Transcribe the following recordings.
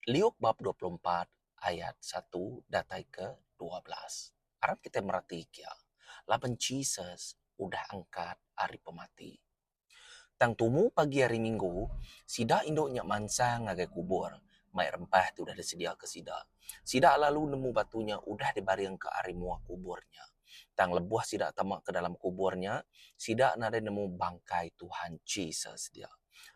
Liuk bab dua puluh empat ayat satu datai ke dua belas. Arap kitai mereti kia laban Jesus udah angkat ari pemati. Tang tumu pagi hari minggu, sida indu nya mansang ngagai kubur mai rempah ti udah disediaka sida. Sida lalu nemu batu nya udah dibaringka ari mua kubur nya. Tang lebuh sida tama ke dalam kubur nya, sida nadai nemu bangkai Tuhan Jesus dia.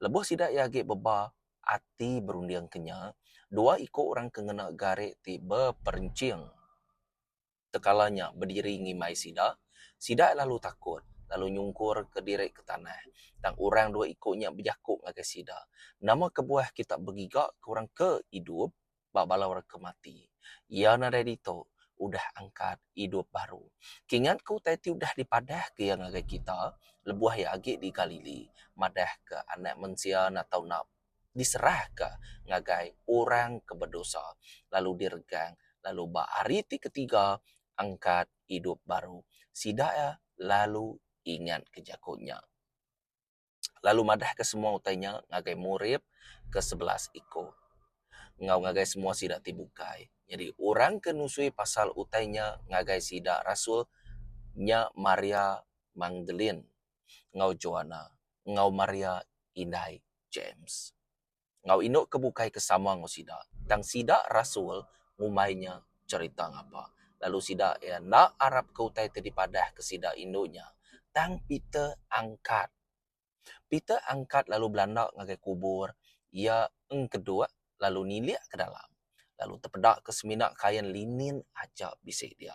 Lebuh sida iya agi beba ati berunding ke nya, dua iku orang ke ngena gari ti beperenching tekala nya bediri ngimbai sida. Sida lalu takut, lalu nyungkurka diri ke tanah. Tang orang dua iku nya bejaku ngagai sida, Nama kebuah kita begigaka orang ke idup? ba bala orang ke mati. Iya nadai ditu udah angkat idup baru. Kingat ke utai ti udah dipadahka iya ngagai kita lebuh iya agi di Galili, madahka Anak Mensia enda tau enda diserahka ngagai orang ke bedosa, lalu diregang, lalu ba hari ti ketiga angkat idup baru. Sida iya lalu ingatka jaku nya. lalu madahka semua utai nya ngagai murid ke sebelas iku enggau ngagai semua sida ti bukai. Nyadi orang ke nusui pasal utai nya ngagai sida rasul nya Maria Magdalene enggau Joana enggau Maria indai James. enggau indu ke bukai ke sama enggau sida tang sida rasul ngumbai nya cherita ngapa lalu sida iya enda arapka utai ti dipadahka sida indu nya tang Peter angkat. Peter angkat lalu belanda ngagai kubur iya engkeduk lalu nilik ke dalam lalu tepedaka semina kain linin aja bisi dia.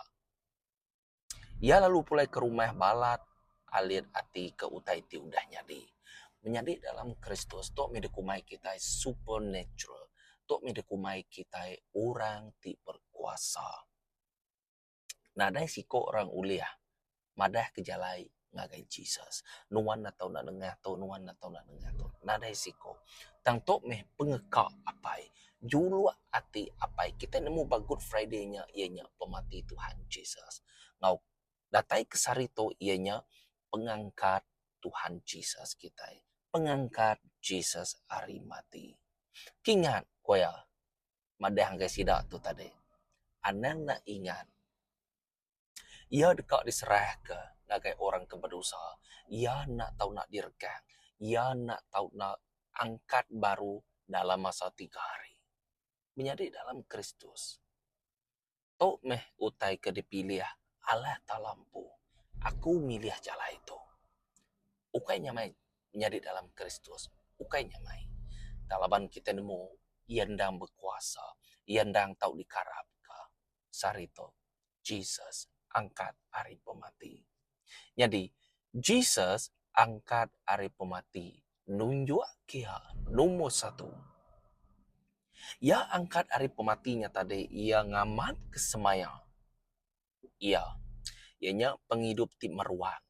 Iya lalu pulai ke rumah balat alit ati ke utai ti udah nyadi. Menyadi dalam Kristus tu mih dikumbai kitai supernatural. Tu mih dikumbai kitai orang ti berkuasa. Nadai siko orang ulih madahka jalai ngagai Jesus. Nuan enda tau nak nengah tu, nuan enda tau nak nengah tu. Nadai siko. Tang tu meh pengeka apai. Juluk ati apai. Kitai nemu ba Good Friday nya iya nya pemati Tuhan Jesus. Enggau datai ke sehari tu iya nya pengangkat Tuhan Jesus kitai. Pengangkat Jesus ari mati. Kingat ku iya madah ngagai sida tu tadi. Anang nak ingat. Iya deka diserahka ngagai orang ke bedosa. Iya enda tau enda diregang. Iya enda tau enda angkat baru dalam masa tiga hari. Menyadi dalam Kristus, tu meh utai ke dipilih Allah Taala empu. Aku milih jalai tu. Ukai nya meh nyadi dalam Kristus. Ukai nya meh. Tang laban kitai nemu Iya endang bekuasa. Iya endang tau dikarapka. sehari tu Jesus angkat ari pemati. Nyadi, Jesus angkat ari pemati nunjuk iya nombor satu. Iya angkat ari pemati nya tadi iya ngamatka semaya iya, iya nya pengidup ti meruan.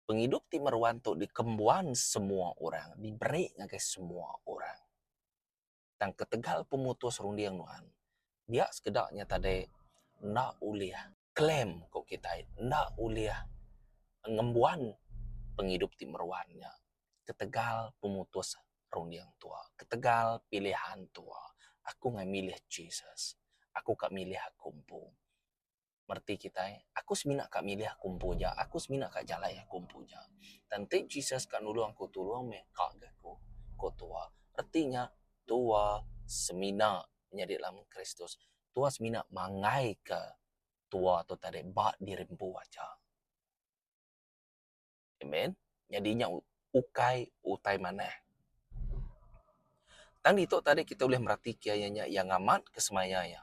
Pengidup ti meruan tu dikembuan semua orang, diberi ngagai semua orang. tang ketegal pemutus runding nuan dia sekeda nya tadi enda ulih claim ku kitai enda ulih ngembuan pengidup ti meruan nya ketegal pemutus runding tu ketegal pilihan tu aku mih milih Jesus aku ka milih aku empu. mereti kitai, Aku semina ka milih aku empu aja, aku semina ka jalai aku empu aja. Tang enti Jesus ka nulung aku tulung meh ka ga aku, ku Tua. Reti nya Tua semina nyadi lam Kristus. Tua semina manggaika Tua tu tadi ba diri empu aja. Amen. Nyadi nya ukai utai manah. Tang ditu tadi kita ulih meratika iya nya iya ngamat ke semaya iya.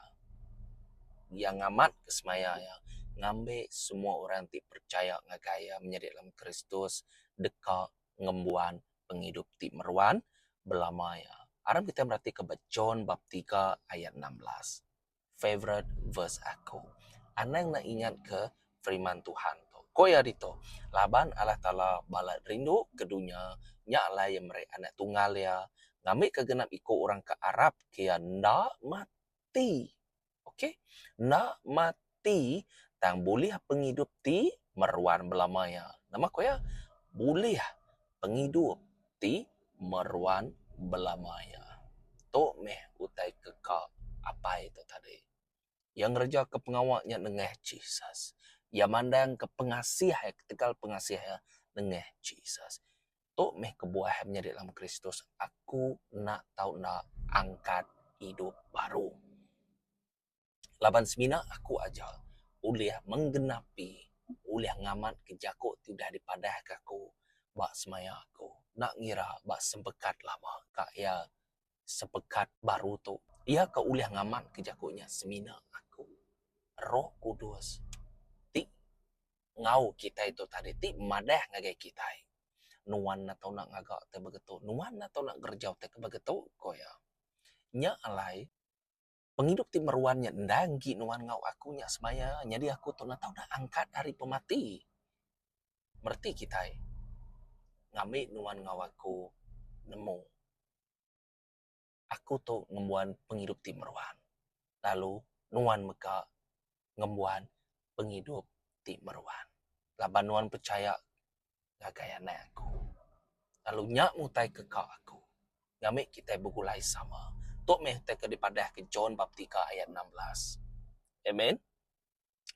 Iya ngamat ke semaya iya ngambi semua orang ti percaya ngagai iya menyadi dalam Kristus deka ngembuan pengidup ti meruan belama iya. Aram kita meratika ba John bab tiga ayat enam belas. favourite verse aku. Anang ne ingat ke firman Tuhan tu. Ko iya ditu, laban Allah Taala balat rindu ke dunya nya alai iya meri Anak Tunggal iya ngambika genap iku orang ke arap ke iya enda mati. Okay. Enda mati tang bulih pengidup ti meruan belama iya. Nama ko iya? Bulih pengidup ti meruan belama iya. Tu meh utai ke ka apai tu tadi. Iya ngerejakka pengawa iya nengah Jesus. Iya mandangka pengasih iya ketegal pengasih iya nengah Jesus. Tu meh kebuah iya menyadi dalam Kristus, Aku enda tau enda angkat idup baru. Laban semina aku aja ulih menggenapi ulih ngamatka jaku ti udah dipadahka aku ba semaya aku enda ngira ba sepekat lama ka iya sepekat baru tu. Iya ke ulih ngamatka jaku nya semina aku Roh Kudus ti ngau kitai tu tadi ti madah ngagai kitai. Nuan enda tau nak ngaga utai begitu. Nuan enda tau nak ngereja utai ke begitu, ku iya. Nya alai. pengidup ti meruan nya enda enggi nuan enggau aku nya sebaya nyadi aku tu enda tau angkat ari pemati. Bereti kitai ngambi nuan enggau aku nemu aku tu ngembuan pengidup ti meruan lalu nuan mega ngembuan pengidup ti meruan. Laban nuan pechaya ngagai anak aku. Lalu nya mutaika ka aku. Ngambika kitai begulai sama. Tu meh utai ke dipadahka John bab tiga ayat enam belas. Amen.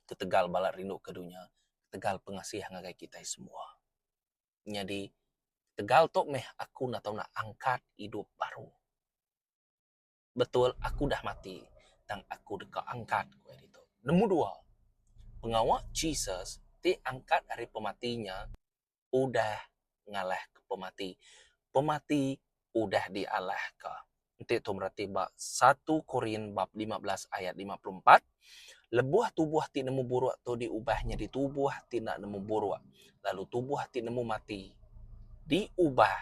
Ketegal bala rindu ke dunya, ketegal pengasih ngagai kitai semua. Nyadi ketegal tu meh aku enda tau nak angkat idup baru. betul aku udah mati tang aku deka angkat, ku iya ditu. Nombor dua, pengawa Jesus ti angkat ari pemati nya udah ngalahka pemati. Pemati udah dialahka. Enti tu mereti ba satu Korin bab lima belas ayat lima puluh empat, Lebuh tubuh ti nemu buruk tu diubah nyadi tubuh ti enda nemu buruk, lalu tubuh ti nemu mati diubah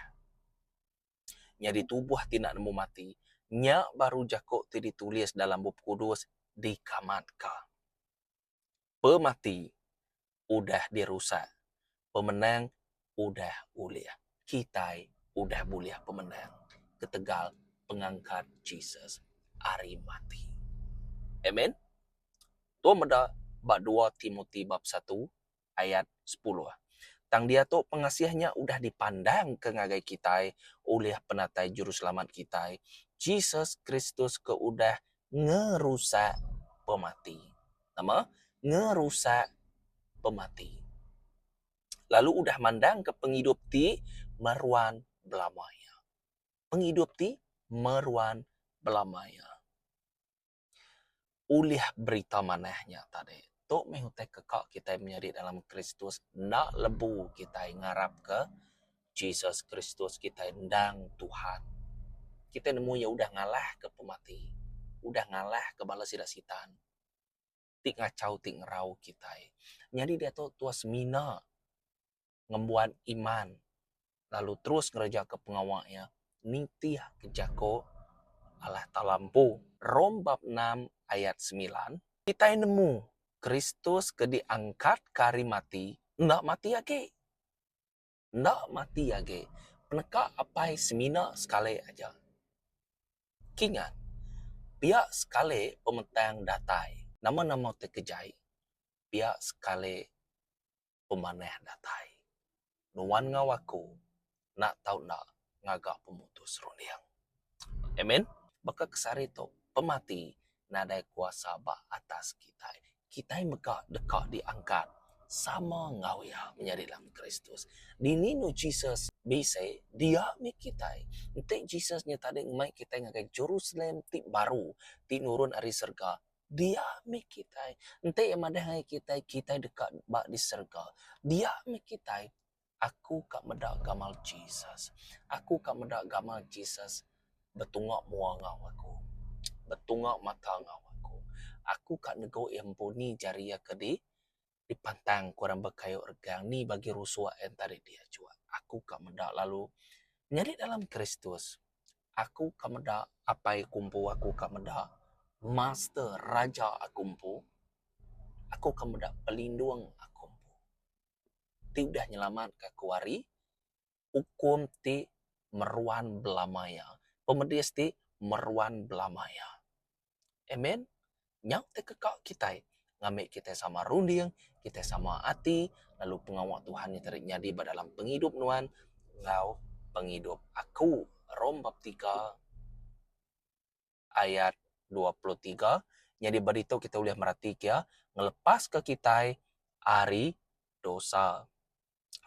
nyadi tubuh ti enda nemu mati. Nya baru jaku ti ditulis dalam Bup Kudus dikamatka. Pemati udah dirusak, pemenang udah ulih. Kitai udah bulih pemenang ketegal pengangkat Jesus ari mati. Amen. Tu meda ba dua Timoti bab satu ayat sepuluh. Tang diatu pengasih nya udah dipandangka ngagai kitai ulih Penatai Juruselamat kitai, Jesus Kristus ke udah ngerusak pemati. Nama? Ngerusak pemati. Lalu udah mandangka pengidup ti meruan belama iya. Pengidup ti meruan belama iya. Ulih berita manah nya tadi, tu meh utai ke ka kitai menyadi dalam Kristus enda lebu kitai ngarapka Jesus Kristus kitai endang Tuhan. Kitai nemu iya udah ngalahka pemati, udah ngalahka bala sida Sitan ti ngachau ti ngerau kitai. Nyadi diatu Tuhan semina ngembuan iman lalu terus ngerejaka pengawa iya nitihka jako Allah Taala empu. Rom bab enam ayat semilan, kitai nemu Kristus ke diangkatka ari mati enda mati agi. Enda mati agi peneka apai semina sekali aja. Kingat, pia sekali pemetang datai, nama-nama ti kejai, pia sekali. pemanah datai. Nuan enggau aku enda tau enda ngaga pemutus serunding. Amen. Baka ke sehari tu, pemati nadai kuasa ba atas kitai. Kitai mega deka diangkat sama enggau iya menyadi dalam Kristus. Dini enu Jesus bisi dia mih kitai? Enti Jesus nya tadi ngemai kitai ngagai Jerusalem ti baru ti nurun ari serega, Dia mih kitai. Enti Iya madah ngagai kitai, kitai deka ba di serega. Dia mih kitai. Aku ka meda gamal Jesus. Aku ka meda gamal Jesus betunga mua enggau aku, betunga mata enggau aku. Aku ka nego Iya empu ni jari Iya ke di dipantang ku orang bekayu regang ni bagi rusuk ain tarik di ajuk aku ka meda lalu nyadi dalam kristus aku ka meda apai ku empu aku ka meda master raja aku empu aku ka meda pelindung aku empu ti udah nyelamat ka aku ari ukum ti meruan belama iya. Pemedis ti meruan belama iya. Amen. Nyau ti keka kitai ngambi kitai sama runding, kitai sama ati lalu pengawa Tuhan nya tadi nyadi ba dalam pengidup nuan enggau pengidup aku. Rom bab tiga. ayat dua puluh tiga. Nyadi ba ditu kitai ulih meratika iya ngelepaska kitai ari dosa.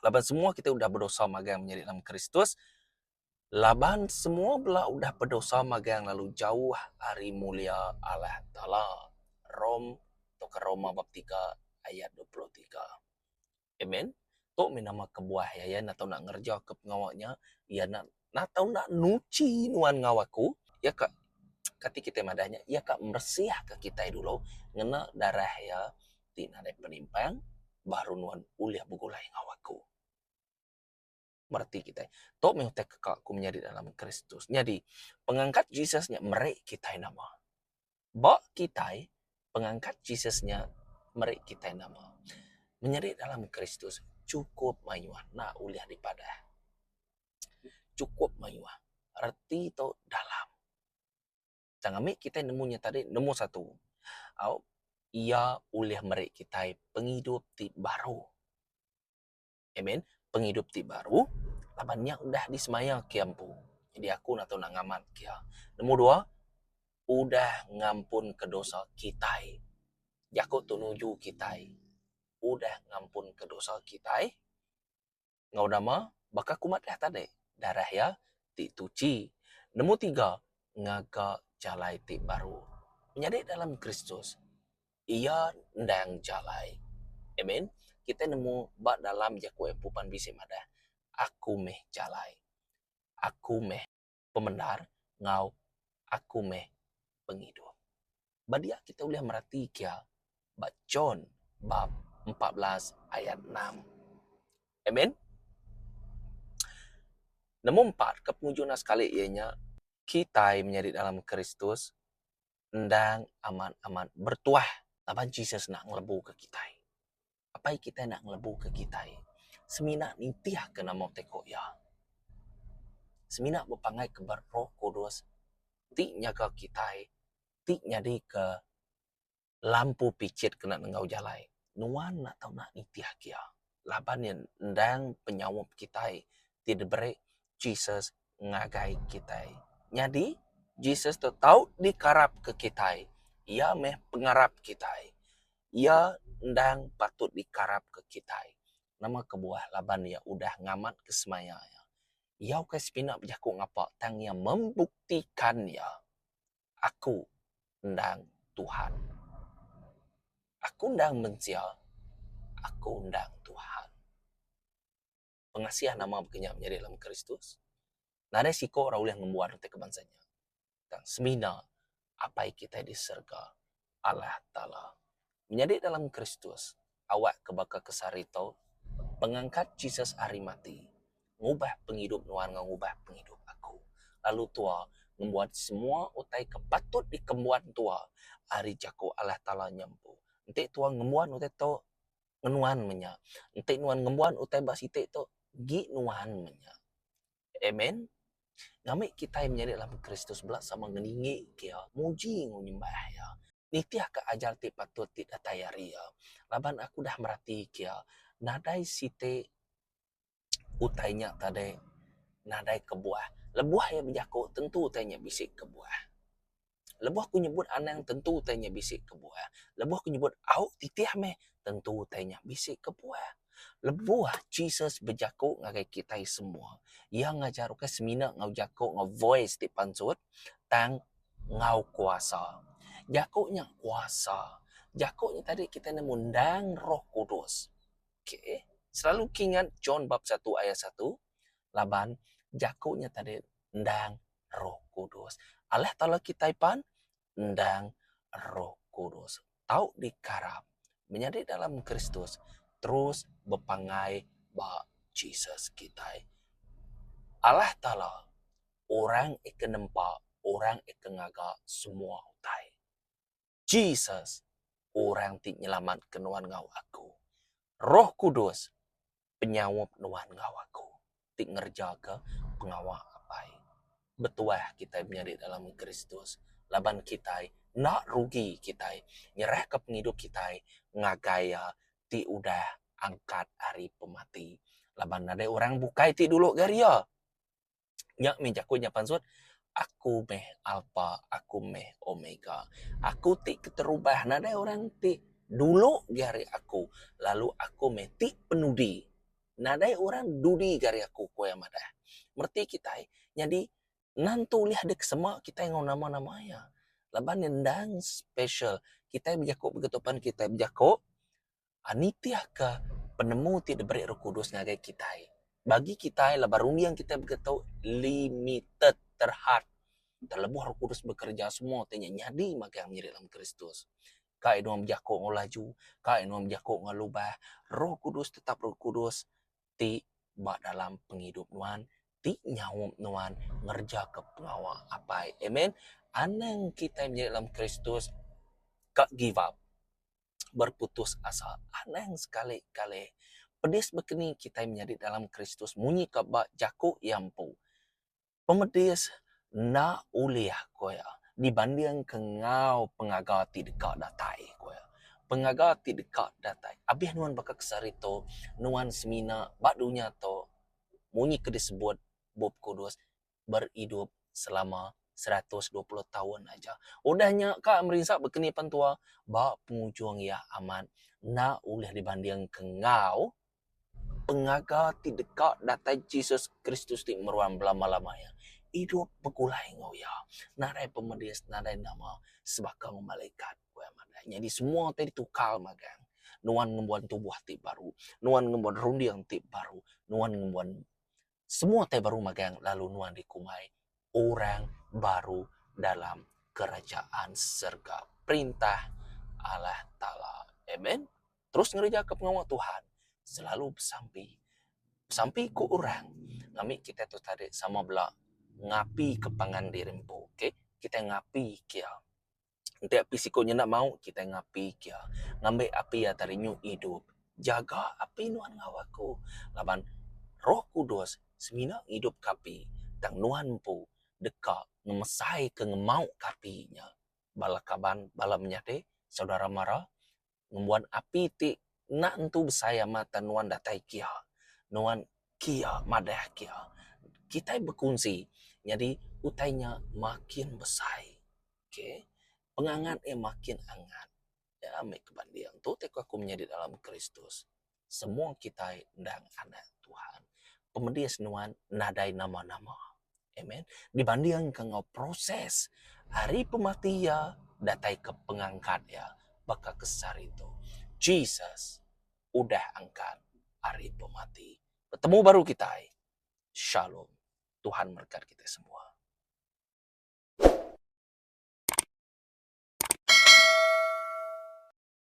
Laban semua kitai udah bedosa magang menyadi dalam Kristus, laban semua bela udah bedosa magang lalu jauh ari mulia Allah Taala. Rom tauka Roma bab tiga ayat dua puluh tiga. Amen. Tu mih nama kebuah iya, iya enda tau nak ngerejaka pengawa nya, iya enda enda tau nak nuchi nuan enggau aku. Iya ka kati kitai madah nya, iya ka meresihka kitai dulu ngena darah iya ti nadai penimpang baru nuan ulih begulai enggau aku. mereti kitai. Tu meh utai keka ku menyadi dalam Kristus. Nyadi, pengangkat Jesus nya meri kitai nama. Ba kitai, pengangkat Jesus nya meri kitai nama. Menyadi dalam Kristus chukup mayuh enda ulih dipadah. Chukup mayuh. Reti tu dalam. Tang ami kitai nemu nya tadi, nombor satu, au iya ulih meri kitai pengidup ti baru. Amen. Pengidup ti baru laban nya udah disemaya kia empu. Jadi aku enda tau nak ngamat kia. Nombor dua, udah ngampunka dosa kitai. Jaku tu nuju kitai. Udah ngampunka dosa kitai. Enggau nama? Baka aku madah tadi, darah iya ti tuchi. Nombor tiga, ngaga jalai ti baru. Menyadi dalam Kristus. iya endang jalai. Amen. Kitai nemu ba dalam jaku pupan bisi madah, Aku meh jalai, Aku meh pemendar enggau Aku meh pengidup. Ba dia kitai ulih mereti kia ba John bab empat belas ayat enam. Amen. Nemu empat ke penguju enda sekali iya nya kitai menyadi dalam Kristus. endang amat-amat bertuah laban Jesus enda ngelebuka kitai. Apai kitai enda ngelebuka kitai semina nitihka nama utai ku iya. Semina bepangai ke ba Roh Kudus ti nyaga kitai, ti nyadika lampu pichit ke enda nengau jalai. Nuan enda tau nak nitihka iya laban iya endang penyaup kitai ti diberi Jesus ngagai kitai. Nyadi, Jesus tu tau dikarapka kitai. Iya meh pengarap kitai. Iya endang patut dikarapka kitai. Nama kebuah? Laban iya udah ngamatka semaya iya. Iya ukai semina bejaku ngapa, tang iya membuktika iya, Aku endang Tuhan. Aku endang mensia. Aku endang Tuhan. pengasih nama baka nya menyadi dalam Kristus, nadai siko orang ulih ngembuan reti ke bansa nya, tang semina Apai kitai di serega, Allah Taala. Menyadi dalam Kristus, awak ke baka ke sehari tu, pengangkat Jesus ari mati, ngubah pengidup nuan enggau ngubah pengidup aku, lalu tua ngembuan semua utai ke patut dikembuan tua ari jaku Allah Taala nya empu. Enti tua ngembuan utai tu, ngenuan meh nya. Enti nuan ngembuan utai ba siti tu, agi nuan meh nya. Amen. Ngambika kitai menyadi anak Kristus bela sama ngelingi ke iya, muji enggau nyembah iya, nitihka ajar ti patut ti datai ari iya. Laban aku udah merati ke iya, nadai siti. utai nya tadai nadai kebuah. Lebuh iya bejaku tentu utai nya bisi kebuah. Lebuh aku nyebut anang tentu utai nya bisi kebuah. Lebuh aku nyebut au titih meh tentu utai nya bisi kebuah. Lebuh Jesus bejaku ngagai kitai semua, iya ngajar ukai semina enggau jaku enggau voice ti pansut tang enggau kuasa. Jaku nya kuasa. Jaku nya tadi kitai nemu endang Roh Kudus. Okay. Selalu kingat John bab satu ayat satu laban jaku nya tadi endang Roh Kudus. Alah taulah kitai pan endang Roh Kudus. Tau dikaram menyadi dalam Kristus terus bepanggai ba Jesus kitai. Alah taula orang ika nempa orang ika ngaga semua utai. Jesus, Orang ti nyelamatka nuan enggau aku. Roh Kudus, Penyaup nuan enggau aku ti ngerejaka pengawa Apai. Betuah kitai menyadi dalam Kristus laban kitai enda rugi kitai nyerahka pengidup kitai ngagai Iya ti udah angkat ari pemati. Laban nadai orang bukai ti dulu gari Iya. Nya mih jaku nya pansut, Aku meh Alpa, aku meh Omega. Aku ti keterubah nadai orang ti dulu gi ari aku, lalu aku meh ti penudi. Nadai orang dudi gi ari aku, ku iya madah. Reti kitai nyadi nentu ulih dek sema kitai enggau nama-nama iya. Laban endang special kitai bejaku begitu pan kitai bejaku. nitihka penemu ti diberi Roh Kudus ngagai kitai. Bagi kitai laban runding kitai mega tu limited, terhad. Terlebuh Roh Kudus bekereja semua ti nya nyadi magang miri dalam Kristus. Kai nuan bejaku enggau laju, kai nuan bejaku enggau lubah, Roh Kudus tetap Roh Kudus ti ba dalam pengidup nuan, ti nyaup nuan ngerejaka pengawa Apai. Amen. Anang kitai miri dalam Kristus ka give up. berputus asa. Anang sekali-kali. Pedis bekeni kitai menyadi dalam Kristus munyika ba jaku iya empu, Pemedis enda ulih, ku iya, dibandingka enggau pengaga ti deka datai, ku iya. Pengaga ti deka datai. Abih nuan baka ke saritu, nuan semina ba dunya tu munyi ke disebut Bup Kudus, beridup selama seratus dua puluh taun aja. Udah nya ka merinsa bekeni pan tua ba pengujung iya amat enda ulih dibandingka enggau pengaga ti deka datai Jesus Kristus ti meruan belama-lama iya. Idup begulai enggau iya. Nadai pemedis, nadai nama sebaka enggau malaikat. Nyadi semua ti ditukar magang. Nuan ngembuan tubuh ti baru. Nuan ngembuan runding ti baru. Nuan ngembuan Semua utai baru magang lalu nuan dikumbai orang baru dalam Kerajaan serega Perintah Allah Taala. Amen. Terus ngerejaka pengawa Tuhan. Selalu besampi. Besampi ku orang. Ngambika kitai tu tadi sama bela ngapika pangan diri empu. Kitai ngapika iya. Enti api siku nya enda mau, kitai ngapi kia. Ngambi api iya tadi nyu idup. Jaga api nuan enggau aku. Laban Roh Kudus semina ngidupka api. Tang nuan empu deka ngemesaika, ngemauka api nya. Bala kaban, bala menyadi, saudara mara ngembuan api ti enda entu besai amat tang nuan datai kia nuan kia madah kia kitai bekunsi nyadi utai nya makin besai okay pengangat iya makin angat nya meh ke banding tu tau aku menyadi dalam kristus. semua kitai endang anak Tuhan. Pemedis nuan nadai nama-nama. Amen. Dibandingka enggau proses ari pemati iya datai ke pengangkat iya baka ke sehari tu. Jesus udah angkat ari pemati. Betemu baru kitai. Shalom. Tuhan memberkati kita semua.